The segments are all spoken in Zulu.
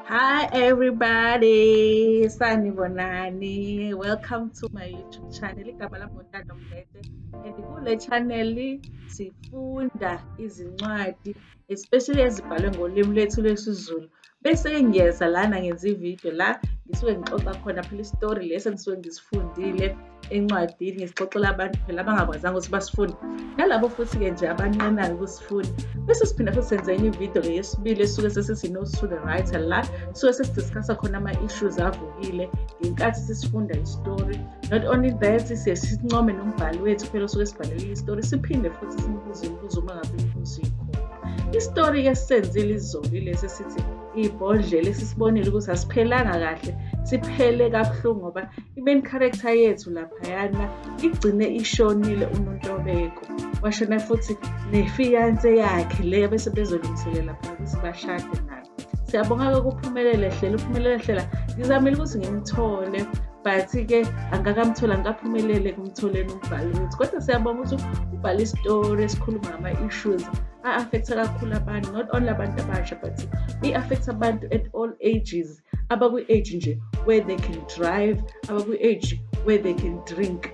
Hi everybody, sanibonani. Welcome to my YouTube channel. Igama lami uNtando Mlete. And kule channel sifunda izincwadi especially ezibhalwe ngolimi lwethu lwesiZulu. Bese ngiyeza lana ngenza ivideo la ngisuke ngixoxa khona phela isitori lesi engisuke ngisifundile encwadini ngisixoxela abantu phela abangakwazanga ukuthi basifunde nalabo futhi-ke nje abanqenayo ukusifunda bese siphinde futhi senze enye ividiyo-ke yesibili esuke sesisi-nose to the writer la suke sesidiscussa khona ama-issues avukile ngenkathi sisifunda isitori not only that siye sincome nombhali wethu phela osuke sibhalelile isitori siphinde futhi simbuze imibuzo uma ngabe imibuzo ikhona isitori-ke sisenzile izoli lesi sithi ibhodlela esisibonile ukuthi asiphelanga kahle siphele kabuhlungu ngoba i-main character yethu laphayana igcine ishonile unontobeko washona futhi nefiyanse yakhe leyo bese bezolungiselela phela ukuthi bashade nayo siyabonga-ke kuphumelele hlela uphumelele hlela ngizamile ukuthi ngimthole but-ke angakamtholi angikaphumelele ekumtholeni umbhali wethu kodwa siyabonga ukuthi ubhale isitori esikhuluma ngama-issues a-affecta kakhulu abantu not only abantu abasha but i-affecta abantu at all ages abakwi-age nje where they can drive abakwi-age where they can drink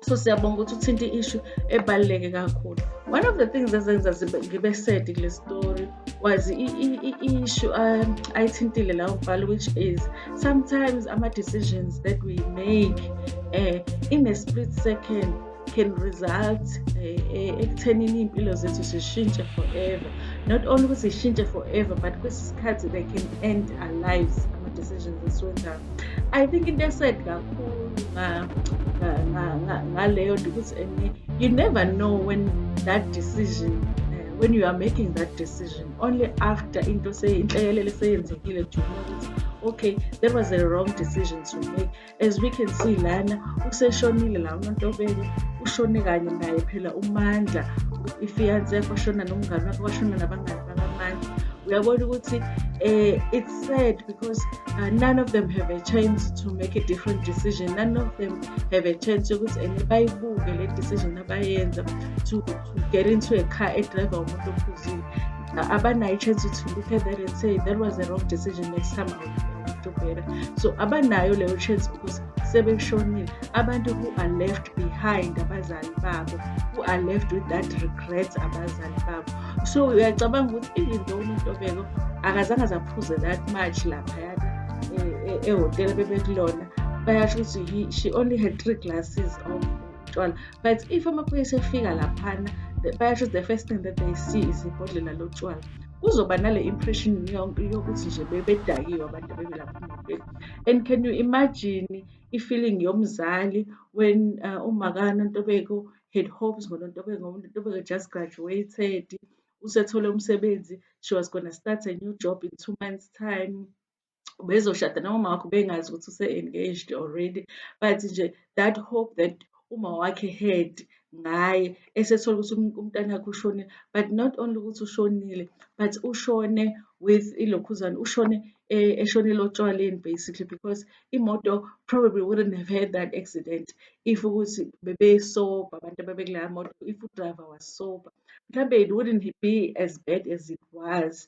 so siyabonga ukuthi uthinte i-ishu ebaluleke kakhulu one of the things ezenza ngibe sad kule story was i-ishu um, ayithintile lawo mbhalo which is sometimes ama-decisions that we make um in a split second can result eh, eh, ekuthenini iy'mpilo zethu zishintshe forever not only ukuthi zishintshe forever but kwesi sikhathi they can end our lives ama-decisions esiwenzayo i think into esed kakhulu ngaleyo nto ukuthi and you never know when that decision eh, when you are making that decision only after into inhlekelele seyenzekile juma ukuthi okay that was a wrong decision to make as we can see lana useshonile la unontobeko ushone kanye naye phela umandla ifiance yakho washona nomngane wakho washona nabangani bakamandla uyabona ukuthi um it's sad because uh, none of them have a chance to make a different decision none of them have a chance yokuthi and bayibuke le decision abayenza to, to get into a car edriver umuntu ophuzile abanayo i-chance to look at that and say that was a wrong decision next time I'll do better so abanayo leyo chance because sebeshonile abantu who are left behind abazali babo who are left with that regret abazali babo so uyacabanga ukuthi even though umuntu obeko akazange zaphuze that much laphayana eh, eh, ehhotela bebekulona bayasho ukuthi she only had three glasses of utshwala but if amaphoyisa efika laphana bayasho the first thing that they see is ibhodlela lotshwala kuzoba nale impression yonke yokuthi nje bebedakiwe abantu abebe lapha emotweni and can you imagine i-feeling yomzali when uh, umakana ntobeko had hopes ngonontobeko unontobeko just graduated usethole umsebenzi she was gonna start a new job in two months time bezoshada nomama wakho bengazi ukuthi use-engaged already but nje that hope that uma wakhe head ngaye esethola ukuthi um, umntanakhe ushonile but not only ukuthi ushonile but ushone with ilokhuzane ushone eh, eshonele otshwaleni basically because imoto probably wouldn't have had that accident if ukuthi bebesoba abantu ababekulayo moto if udriver was sober mhlawumbe it wouldn't be as bad as it was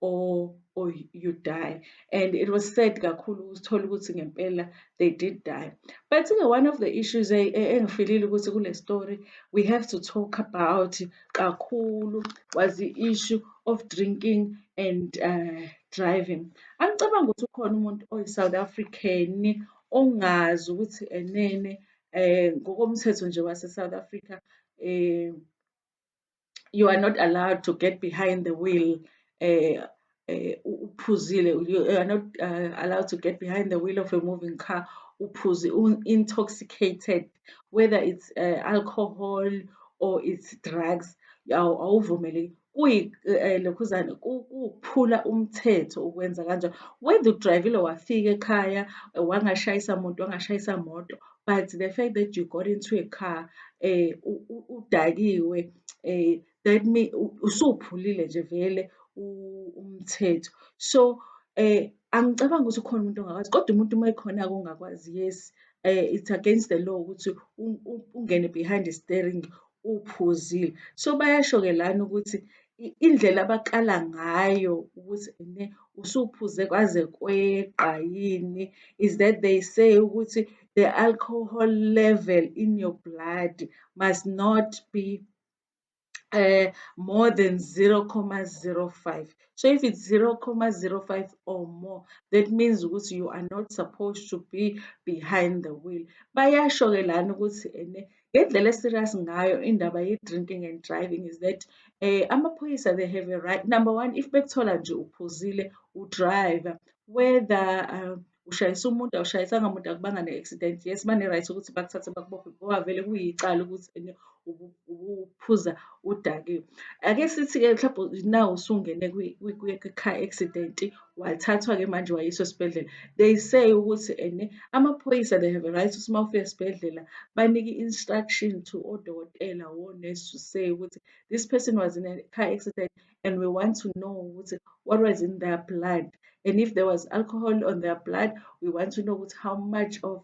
or or you die and it was sad kakhulu ukuthola ukuthi ngempela they did die but ke one of the issues engifilile ukuthi kule story we have to talk about kakhulu was the issue of drinking and uh, driving angicabanga ukuthi ukhona umuntu oyi-south african ongazi ukuthi enene um ngokomthetho nje wase-south africa um you are not allowed to get behind the wheel uh, uphuzile uh, you are not uh, allowed to get behind the wheel of a moving car uphuzi intoxicated whether it's uh, alcohol or it's drugs awuvumeleki kuyilokhuzane eh, kuphula umthetho ukwenza kanjalo whether udrivile wafika ekhaya wangashayisa muntu wangashayisa moto but the fact that you got into a car eh udakiwe eh that mean usuphulile nje vele umthetho so eh angicabangi ukuthi ukhona umuntu ongakwazi kodwa umuntu uma ekhona ke ongakwazi yes eh it's against the law ukuthi ungene behind the steering uphuzile so bayasho ke lana ukuthi indlela abakala ngayo ukuthi ne usuphuze kwaze kweqa yini is that they say ukuthi the alcohol level in your blood must not be uh, more than 0,05 so if it's 0,05 or more that means ukuthi you are not supposed to be behind the wheel bayasho ke lana ukuthi ene Ngendlela e-serious ngayo indaba ye-drinking and driving is that um amaphoyisa they have a right number one if bekuthola nje uphuzile udrive whether um ushayisa umuntu awushayisanga umuntu akubanga ne-accident yes bane-right ukuthi bakuthathe bakubophe ngoba vele kuyicala ukuthi ene ubuphuza udakiwe. Ake sithi-ke mhlawumbe now usungene kwi-car accident wathathwa-ke manje wayiswa esibhedlela they say ukuthi ene amaphoyisa they have a right ukuthi uma ufika esibhedlela banike instruction to odokotela wonesi to say ukuthi this person was in a car accident and we want to know ukuthi what was in their blood and if there was alcohol on their blood we want to know ukuthi how much of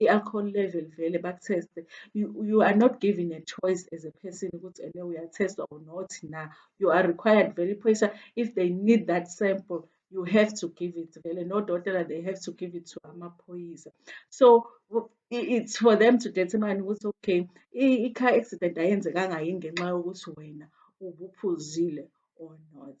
i-alcohol level vele bakutheste you, you are not given a choice as a person ukuthi ene uyathestwa or not na you are required vele iphoyisa if they need that sample you have to give it vele nodokotela they have to give it to amaphoyisa so it's for them to determine ukuthi okay i-car accident ayenzekanga yini ngenxa yokuthi wena ubuphuzile or not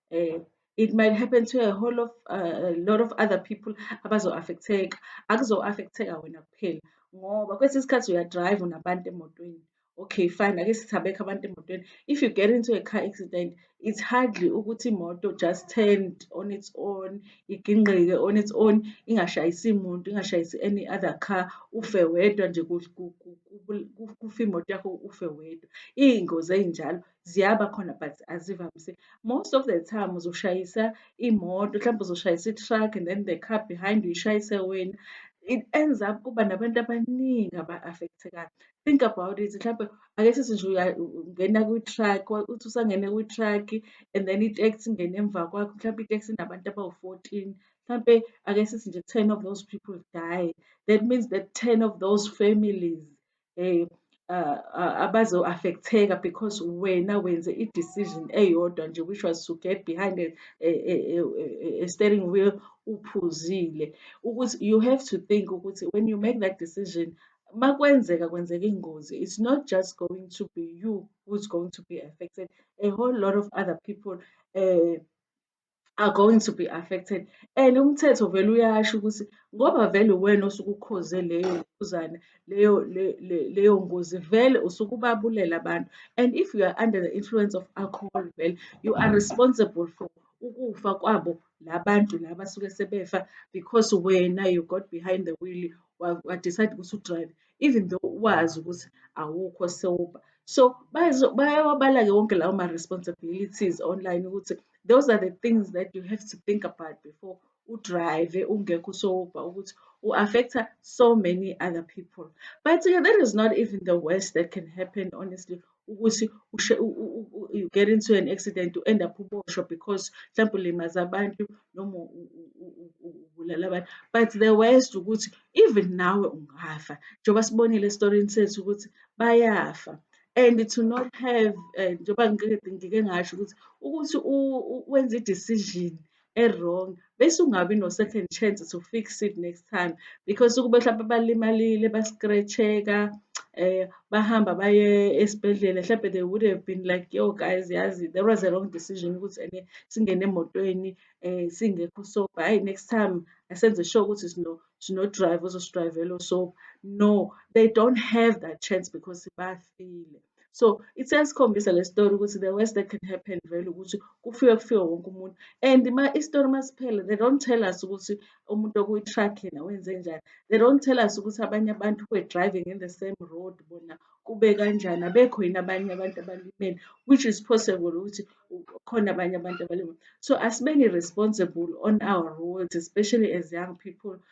eh it might happen to a whole of uh, a lot of other people abazo-affecteka akuzo-affecteka wena kuphela ngoba kwesinye isikhathi uyadrive unabantu emotweni okay fine ake sithabekho abantu emotweni if you get into a car accident it's hardly ukuthi imoto just turned on its own igingqike on its own ingashayisi muntu ingashayisi any other car ufe wedwa nje kufe imoto yakho ufe wedwa iy'ngozi ey'njalo Ziyaba khona but azivamise. Most of the time uzoshayisa imoto, mhlawumbe uzoshayisa i-truck and then the car behind uyishayise wena. It ends up kuba nabantu abaningi aba-affectekayo. Think about it, mhlawumbe ake sithi nje ungena kwi-truck, uthi usangene kwi-truck and then i-taxi ingene emva kwakho, mhlawumbe i-taxi inabantu abawu-fourteen. Mhlampe ake sithi nje ten of those people die, that means that ten of those families um abazo-affect-eka because wena wenze i-decision eyodwa nje which was to get behind a, a, a, a, a steering wheel uphuzile ukuthi you have to think ukuthi when you make that decision makwenzeka kwenzeka ingozi it's not just going to be you who's going to be affected a whole lot of other people um uh, are going to be affected and umthetho vele uyasho ukuthi ngoba vele uwena osuke ukhoze leyo nkuzana leyo leyo ngozi vele usuke ubabulela abantu and if you are under the influence of alcohol vele you are responsible for ukufa kwabo labantu laba suke sebefa because wena you got behind the wheel wadecide ukuthi udrive even though wazi ukuthi awukho sober so bayawabala-ke wonke lawo ma-responsibilities online ukuthi those are the things that you have to think about before udrive ungekho sober ukuthi u-affecta so many other people but-ke that is not even the worst that can happen honestly ukuthi ushe you get into an accident u end up uboshwa because mhlawumbe ulimaza abantu noma ubulala abantu but the worst ukuthi even nawe ungafa njengoba sibonile esitorini sethu ukuthi bayafa and to not have eh, njengoba ngike ngasho ukuthi ukuthi wenze i-decision e-wrong bese ungabi no-second chance to fix it next time because ukube mhlawumpe balimalile ba-scratch-eka um bahamba baye esibhedlela mhlawumpe they would have been like yo guys yazi there was a wrong decision ukuthi ene singene emotweni um singekho soba hhayi next time asenze sure ukuthi sino sinodrive ozosidrayivela osoba no they don't have that chance because bafile So it's esikhombisa le story ukuthi the worst that can happen vele ukuthi kufike kufike wonke umuntu and ma istory masiphele they don't tell us ukuthi umuntu okuyi-truck yena wenze njani they don't tell us ukuthi abanye abantu were driving in the same road bona kube kanjani abekho yini abanye abantu abalimele which is possible ukuthi khona abanye abantu abalimele so asibeni responsible on our roads especially as young people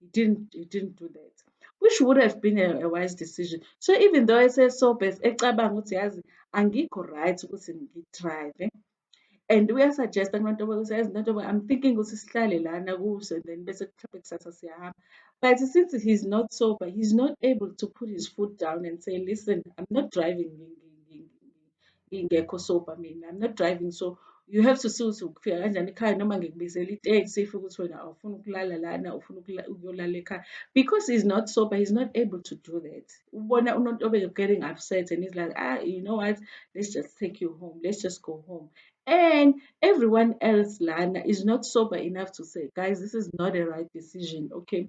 he didn't he didn't do that which would have been a, a wise decision so even though esesobes ecabanga ukuthi yazi angikho right ukuthi ngidrive and uyasuggesta kubantu ukuthi yazi nto i'm thinking ukuthi sihlale lana kuso then bese mhlawumbe kusasa siyahamba but since he's not sober he's not able to put his foot down and say listen i'm not driving ingekho sober mina i'm not driving so you have to see ukuthi ukufika kanjani ekhaya noma ngikubizela iteksi if ukuthi wena awufuni ukulala lana ufuna ukuyolala ekhaya because he's not sober he's not able to do that ubona unontobeko getting upset and he's like ah you know what let's just take you home let's just go home and everyone else lana is not sober enough to say guys this is not a right decision okay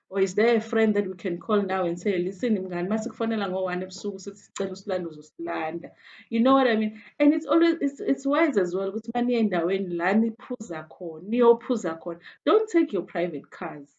or is there a friend that we can call now and say listen mngani uma sikufonela ngo-one ebusuku sithi sicela usilanda uzosilanda you know what i mean and it's always it's, it's wise as well ukuthi uma niye endaweni la niphuza khona niyophuza khona don't take your private cars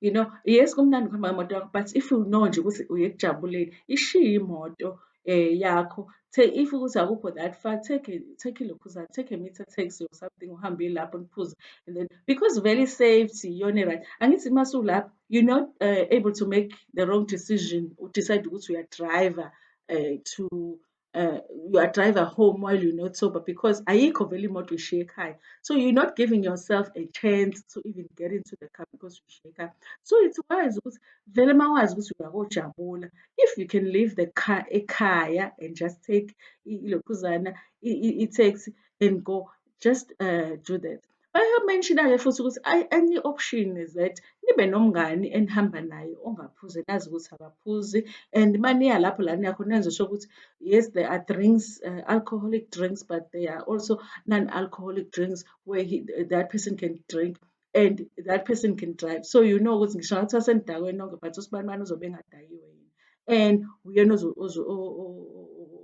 you know yes kumnandi ukuhamba ngemoto yakho but if you know nje ukuthi uye ekujabuleni ishiye imoto eh yakho take if ukuthi akukho that far take a, take a lokhuzana take a meter taxi or something uhambe lapho niphuze and then because very safety yona right angithi uma sulapho you not uh, able to make the wrong decision u decide ukuthi uya driver uh, to uh, you are driver home while you're not sober because ayikho vele imoto ishiye ekhaya so you're not giving yourself a chance to even get into the car because ushiye ekhaya so it's wise ukuthi vele mawazi ukuthi uyakojabula if you can leave the car ekhaya and just take ilokhuzana i-taxi and go just uh, do that bayamenshina-ke futhi ukuthi any option is that nibe nomngani enihamba naye ongaphuzi nazi ukuthi akaphuzi and uma niya lapho la niya khona nizosho ukuthi yes there are drinks uh, alcoholic drinks but there are also non-alcoholic drinks where he, that person can drink and that person can drive so you know ukuthi ngisho ngathiwa senidakwe nonke but usibanibani uzobe engadakiwe yini and uyena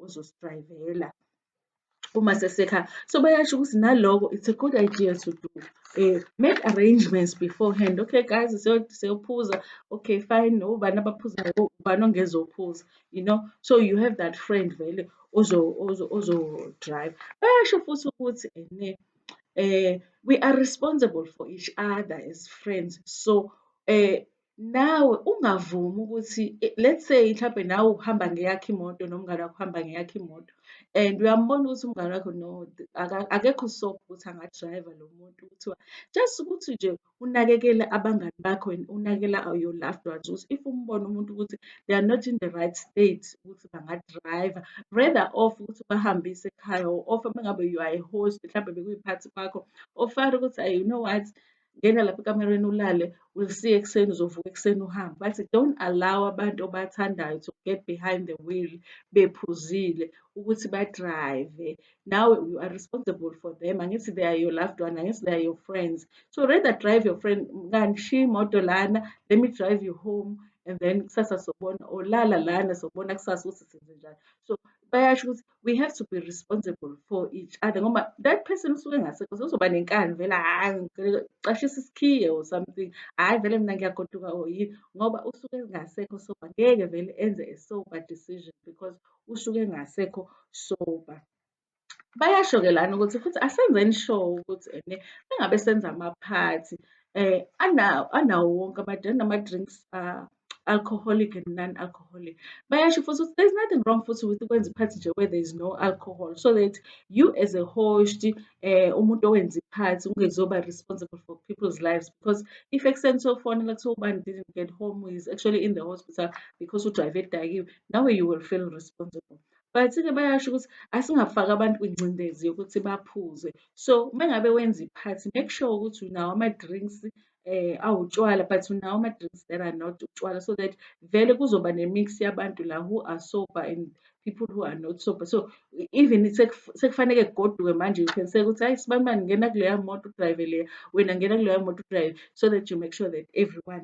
ozosidrayivela uma sesekhaya so bayasho ukuthi naloko it's a good idea to do um make arrangements beforehand okay guys siyophuza okay fine ubani abaphuzayo ubani ongezophuza you know so you have that friend vele ozodrive bayasho futhi ukuthi ene eh we are responsible for each other as friends so eh nawe ungavumi ukuthi eh, let's say mhlawumbe nawe uhamba ngeyakho imoto nomngane wakho uhamba ngeyakho imoto and uyambona ukuthi umngane wakho no akekho soft ukuthi angadrayiva lo muntu kuthiwa just ukuthi nje unakekele abangani bakho and unakekela your loved ones ukuthi if umbona umuntu ukuthi they are not in the right state ukuthi bangadriver rather off ukuthi bahambise ekhaya or off uma ngabe you are a host mhlawumbe bekuyiphathi kwakho ofare ukuthi ayi you know what ngena lapha ekamereni ulale will see ekuseni uzovuka ekuseni uhambe bathi don't allow abantu obathandayo to get behind the wheel bephuzile ukuthi badrive nawe you are responsible for them angithi they are your loved one angithi they are your friends so rather drive your friend kangishiya imoto lana let me drive you home and then kusasa sobona olala lana sobona kusasa ukuthi senze njani so bayasho ukuthi we have to be responsible for each other ngoba that person usuke ngasekho sozoba nenkani vele hhayi ngicashisa isikhiye or something hhayi vele mina ngiyagoduka or yini ngoba usuke ngasekho so ngeke vele enze a sober decision because usuke engasekho sober. Bayasho-ke lana ukuthi futhi asenzeni sure ukuthi ene engabe senza amaphathi um anawo anawo wonke ama-drink nama-drinks uh, alcoholic and non-alcoholic bayasho futhi ukuthi there's nothing wrong futhi with ukwenza iphathi nje where there is no alcohol so that you as a host um umuntu owenza iphathi ungezoba responsible for people's lives because if ekuseni sofonela kuthiwa ubani didn't get home is actually in the hospital because udrive edakiwe nawe you will feel responsible but-ke bayasho ukuthi asingafaki abantu kwingcindezi yokuthi baphuze so uma ngabe wenza iphathi make sure ukuthi unawo ama-drinks eh awutshwala but unawo ama-drinks that are not utshwala so that vele kuzoba ne-mix yabantu la who are sober and people who are not sober so even sekufaneke kugoduke manje you can say ukuthi hayi sibambani ngena kuleya moto udrayive leya wena ngena kuleya moto udrayive so that you make sure that everyone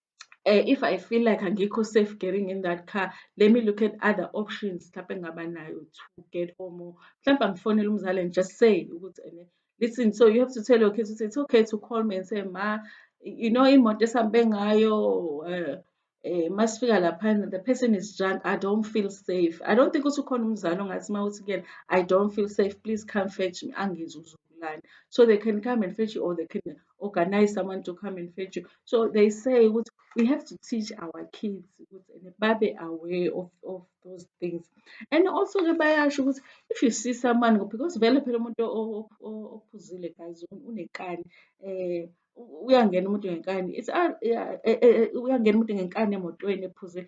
um if I feel like angikho safe getting in that car let me look at other options mhlampe engingaba nayo to get home or mhlampe angifonele umzali and just say ukuthi ene listen so you have to tell your kids ukuthi it's okay to call me and say ma you know imoto esihambe ngayo um eh masifika laphana the person is drunk i don't feel safe i don't think ukuthi ukhona umzali ongathi uma uthi kuyena i don't feel safe please come fetch me angizwe uzokulanda so they can come and fetch you or they can organize someone to come and fetch you so they say ukuthi we have to teach our kids ukuthi babe aware of, of those things and also ke bayasho ukuthi if you see someone because vele phela umuntu ophuzile guys unekani eh uyangena umuntu ngenkani it's uyangena umuntu ngenkani emotweni ephuzile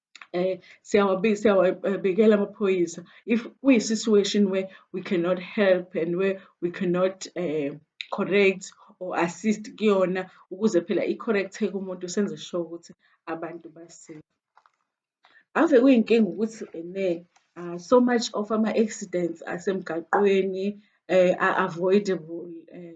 eh, siyawabikela amaphoyisa if kuyi-situation where we cannot help and where we cannot uh, correct or assist kuyona ukuze phela i-correct-eke umuntu senze sure ukuthi abantu basile ave kuyinkinga ukuthi ene uh, so much of ama-accidents asemgaqweni uh, are avoidable uh,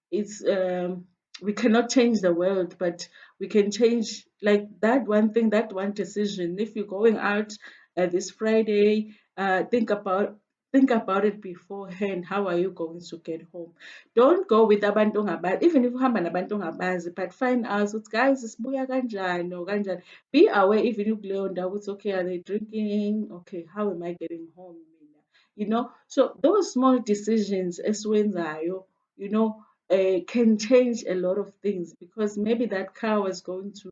it's um, we cannot change the world but we can change like that one thing that one decision if you're going out uh, this friday uh, think about think about it beforehand how are you going to get home don't go with abantu ongabazi even if uhamba nabantu ongabazi but find out ukuthi guys sibuya kanjani or kanjani be aware even ukuleyo ndawo ukuthi okay are they drinking okay how am i getting home you know so those small decisions esiwenzayo you know, uh, can change a lot of things because maybe that car was going to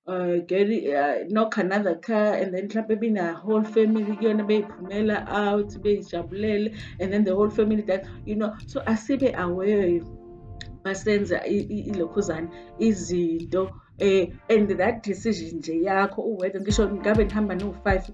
uh, get uh, knock another car and then mhlampe been a whole family kuyona beyiphumela out beyijabulele and then the whole family that you know so asibe aware masenza ilokhuzana izinto eh and that decision nje yakho uwedwa ngisho ngabe nihamba no-five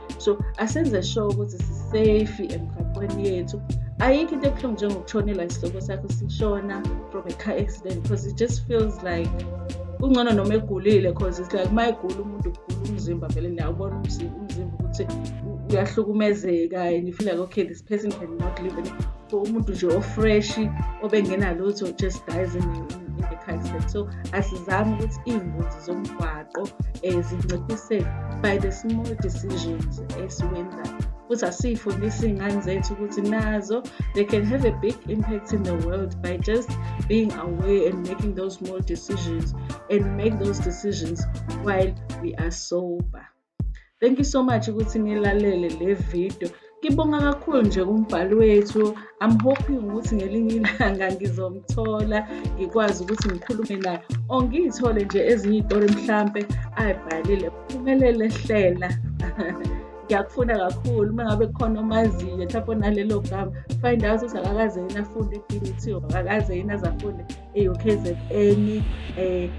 so asenze sure ukuthi sisafe emgaqweni yethu ayikho into ebuhlungu njengokushonelwa isihloko sakho sishona from a car accident because it just feels like kungcono noma egulile because it's like uma egula umuntu kugula umzimba vele niyawubona umzimba umzimba ukuthi uyahlukumezeka and you feel like okay this person can not live in so umuntu nje ofresh obengenalutho just dies in, in, in the car accident so asizame ukuthi iy'ngozi zomgwaqo izinguquko um zinciphise by the small decisions esiwenzayo futhi asiyifundise iy'ngane zethu ukuthi nazo they can have a big impact in the world by just being aware and making those small decisions and make those decisions while we are sober Thank you so much ukuthi nilalele le video. Ngibonga kakhulu nje kumbhali wethu. I'm hoping ukuthi ngelinye ilanga ngizomthola ngikwazi ukuthi ngikhulume naye or ngiyithole nje ezinye iy'tori mhlampe ayibhalile. Phumelele hlela. ngiyakufuna kakhulu uma ngabe khona omaziyo mhlawumpe onalelo gama find out ukuthi akakaze yini afunde e-BET or akakaze yini aze afunde eyo-kzn eh,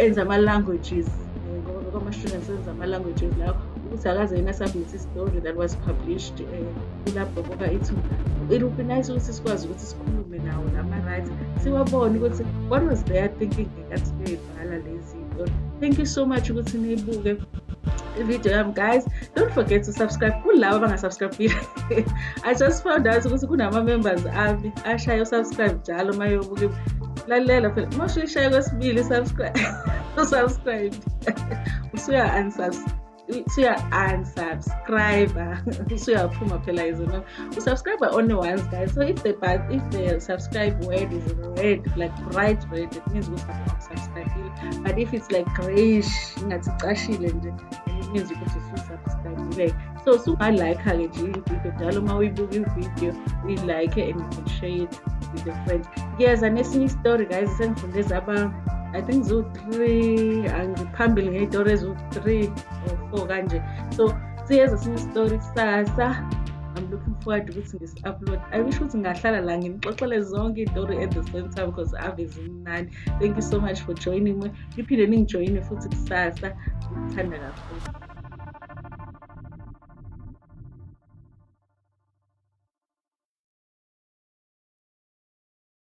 enza ama-languages eh, ngoba bekwamashriners enza ama-languages lawo ukuthi akaze yena submit istory that was published eh, kulapho koka ithuba it would be nice ukuthi sikwazi ukuthi sikhulume nawo nama-right siwabone ukuthi what was their thinking ngekathileni ngala lezi thank you so much ukuthi niyibuke video yami guys don't forget to subscribe kulabo abangasubscribile i just found out ukuthi kunama-members ami ashaye usubscribe njalo uma yobuke lalela phela uma ushayishaye kwesibili usubscribe usuya-unsubscribe usuya unsubscriber usuyaphuma phela izona usubscriber only once guys so if the but if the subscribe word is red like bright red it means ukuthi ukusubscribile but if it's like grayish ingathi cashile nje it means ukuthi ususubscribile so usungalike-ke nje ividiyo njalo uma uyibuka ividiyo uyilike and you can share it with your friends ngiyeza nesinye istory guys sengifunde zaba i think ziwu-3 three angiphambili ngey'tori eziwu-three or four kanje so siyeza sinye isitori kusasa I'm looking forward ukuthi ngisi-upload i wish ukuthi ngahlala la nginixoxele zonke iy'tori at the same time because ave zimnani thank you so much for joining me niphinde ningijoyine futhi kusasa ngikuthanda kakhulu